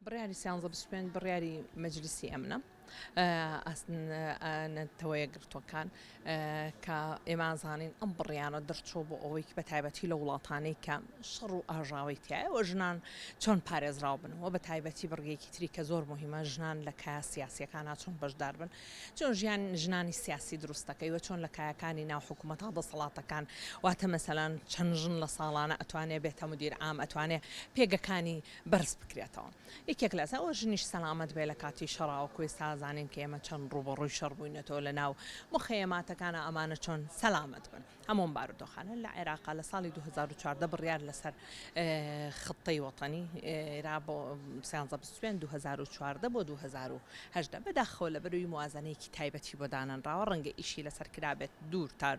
بڕیاری سیانزە بیست و پێنج بڕیاری مەجلیسی ئەمنە نەتەوەیەکگرتووەکان کە ئێمە زانین ئەم بڕیانە دەرچۆ بۆ ئەوەیکی بە تایبەتی لە وڵاتانەی کە شەڕ و ئاژاوی تایەوە ژنان چۆن پارێزراو بنەوە بە تایبەتی بڕگەیەکی تری کە زۆر مهمە ژنان لە کە سیاسەکان چۆن بەشدار بن چۆن ژیان ژنانی سیاسی دروستەکەی وە چۆن لە کایەکانی ناو حکوومەت تا دەسەڵاتەکان واتە مەسەلاەن چەند ژن لە ساڵانە ئەتوانێت بێتە مدیر ئام ئەتوانێت پێگەکانی بەرز بکرێتەوە یەکێک لەسە ئەوە ژنیش سەلامەت بێ لە کاتی شەڕاوە کۆی سازانین کە ئێمە چەند ڕووبەڕووی شەڕ بووینەتەوە لە ناو مخەیەماتەکانە ئەمانە چۆن سەلامەت بن هەمۆم بارودۆخانە لە عێراقا لە ساڵی 2014 بڕیار لەسەر خطەی وەتەنی ئێرا بۆ سیانزە بسوێن 2014 بۆ 2010 بەداخەوە لە بەروی موازنەیەکی تایبەتی بۆ دانەنراوە ڕەنگە ئیشی لەسەر کرابێت دوور تار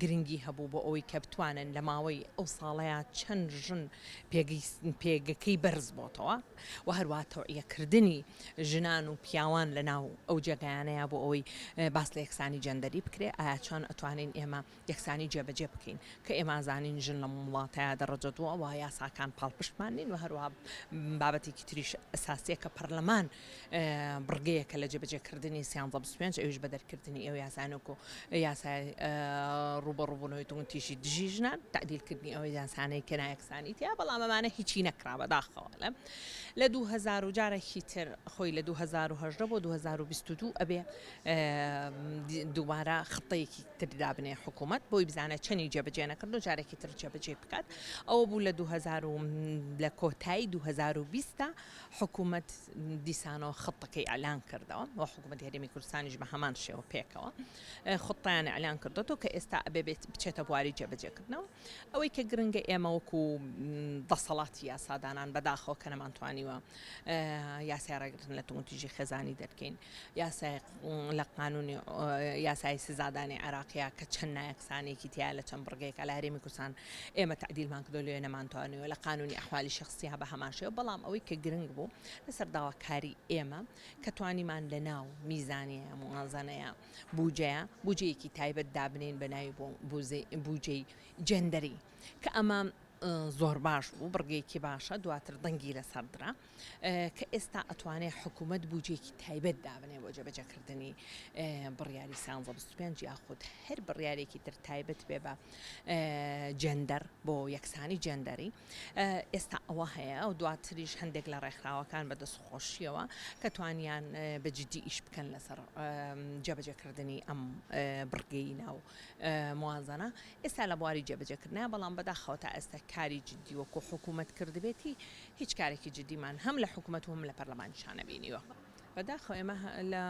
گرنگی هەبوو بۆ ئەوەی کە بتوانن لە ماوەی ئەو ساڵەیا چەند ژن پێگەکەی بەرز بۆتەوە و هەروە تەوعیەکردنی ژنان و پیاوان لە ناو ئەو جێگایانەیە بۆ ئەوەی باس لە یەکسانی جەندەری بکرێ ئایا چۆن ئەتوانین ئێمە یەکسانی جێبەجێ بکەین کە ئێمازانین ژن لە وڵاتەیە دەڕەجە دووە وە یاساکان پاڵپشتمان نین و هەروە بابەتێکی تریش ئەساسیە کە پەرلەمان بڕگەیەکە لە جێبەجێکردنی سیانزە بیست و پێنج ئەویش بە دەرکردنی ئەو یاسانە و یاسای ڕوبەڕوبوونەوەی توندتیژی دژی ژنان تعدیلکردنی ئەو یاسانەی کە نایەکسانی تیا بەڵام ئەمانە هیچی نەکرا بەداخەوە لە لە 2000 و جارێکی تر خۆی لە 2010 بۆ 2022 ئەبێ دووبارە خطەیەکی تردا بنێ حکوومەت بۆی بزانە چەنی جێبەجێ نەکرد و جارێکی تر جێبەجێ بکات ئەوە بوو لە 2000 لە کۆتایی 2020 حکومەت دیسانەوە خطەکەی ئەلان کردەوە و حکومەت هەرێمی کوردستانیش بە هەمان شێوە پێکەوە خطیان ئەلان کردەوە کە ئێستا ئەبێ بێت بچێتە بواری جێبەجێکردنەوە ئەوەی کە گرنگە ئێمە وەکو دەسەڵاتی یاسادانان بەداخەوە کە نەمانتوانیوە یاسای ڕێگرتن لە توندتیژی خێزانی دەرکەین یاسایەک لە قانوونی یاسایی سزادانی عێراقیە کە چەند نایەکسانیەکی تیا لە چەند بڕگەیەکە لە هەرێمی کوردستان ئێمە تەعدیلمان کردو لێ نەمانتوانیوە لە قانوونی ئەحوالی شەخسیە بە هەمان شێوە بەڵام ئەوەی کە گرنگ بوو لەسەر داواکاری ئێمە کە توانیمان لە ناو میزانیە موازەنەیە بوجەیە بوجەیەکی تایبەت دابنین بە ناوی بۆ بوجەی جێندەری کە ئەمە زۆر باش بوو بڕگەیەکی باشە دواتر دەنگی لەسەر درا کە ئێستا ئەتوانێ حکوومەت بوجەیەکی تایبەت دابنێ بۆ جێبەجێکردنی بڕیاری سانزە بیست پێنج یاخود هەر بڕیارێکی تر تایبەت بێ بە جێندەر بۆ یەکسانی جێندەری ئێستا ئەوە هەیە ئەو دواتریش هەندێک لە ڕێکخراوەکان بە دەست خۆشیەوە کە توانیان بە جددی ئیش بکەن لەسەر جێبەجێکردنی ئەم بڕگەی ناو موازەنە ئێستا لە بواری جێبەجێکردنە بەڵام بەداخەوە تا ئێستا کاری جددی وەکو حکوومەت کردبێتی هیچ کارێکی جدیمان هەم لە حکومەت و هەم لە پەرلەمانیشا نەبینیوە. بەداخەوە ئێمە لە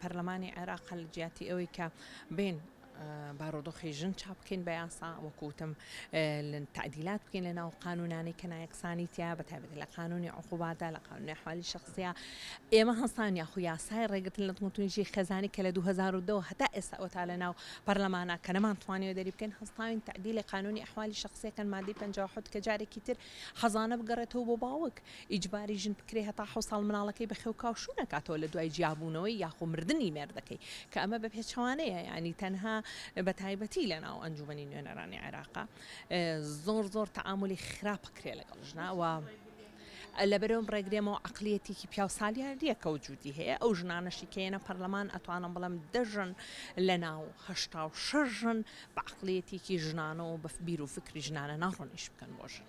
پەرلەمانی عێراق لە جیاتی ئەوەی کە بێن بارۆدۆخی ژن چاپ بکەین بە یاسا وەکوتم تعدیلات بکەین لە ناو قانونانەی کە نایەکسانی تیا بە تایبەت لە قانونی عقوباتە لە قانونی حوالی شخصە ئێمە هەستان یاخو یاسای ڕێگرتن لە دڵتونیژی خێزانی کە لە 2002 هەتا ئێستا ئەوتا لە ناو پەرلەمانە کە نەمانتوانیوە دەری بکەین هەستاوین تەعدیلی قانونی ئەحوالی شەخسیەکەن مادەی پەنجا و حەوت کە جارێکی تر حەزانە بگەڕێتەوە بۆ باوک ئیجباری ژن بکرێ هەتا حەوت ساڵ مناڵەکەی بە خێو کاو شوو نەکاتەوە لە دوای جیابوونەوەی یاخۆ مردنی مێردەکەی کە ئەمە بە پێچەوانەیە یانی تەنها بە تایبەتی لە ناو ئەنجومەنی نوێنەرانی عێراقە زۆر زۆر تەعامولی خراپ بکرێ لەگەڵ ژنە وە لەبەرئەوەم ڕێگرێمەوە عەقلیەتێکی پیاو سالیاریە کە وجودی هەیە ئەو ژنانەشی کە یەنە پەرلەمان ئەتوانم بڵێم دە ژن لە ناو هەشتا و شەش ژن بە عەقلیەتێکی ژنانەوە بە بیر و فکری ژنانە ناڕۆن ئیش بکەن بۆ ژن.